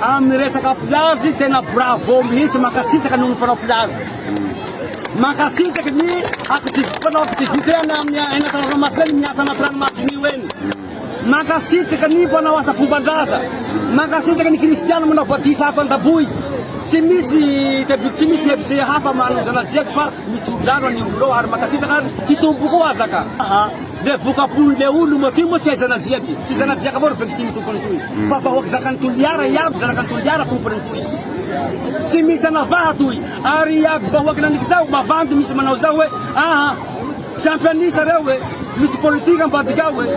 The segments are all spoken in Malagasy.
Amin'ny resaka plazy tena bravo mihitsy mankasitraka noho ny mpanao plazy. Mankasitraka ny activité mpanao activité any amin'ny anaty ranomasina ny miasa anaty ranomasina io eny. Mankasitraka ny mpanao asa fomban-draza. Mankasitraka ny kristiana manao batisa ato Andaboy. Tsy misy debut tsy misy hevitry hafa manozana ziaky fa mitsodrano an'io ireo ary mankasitraka ary hitombo koa azaka. Le vokapony le oloma ty moa tsy hay zanadriaka e, tsy zanadriaka avao ry victime tompony toy fa vahoaka zakan'i Toliara iaby zanakan'i Toliara tompony toy tsy misy anavaha toy ary iaby vahoaka naniky zao mavandy misy manao zao hoe aa tsy ampy anisa reo e misy politika ambadika ao e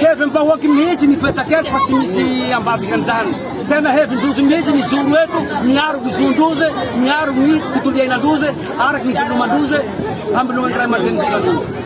hevim bahoaky mihitsy mipetraka eto fa tsy misy ambadikan'izany tena hevin-drozy mihitsy mijoro eto miaro ny zon-drozy miaro ny tontolo iainandrozy araky ny veloman-drozy hamelohan'ny ray aman-drenin-drozy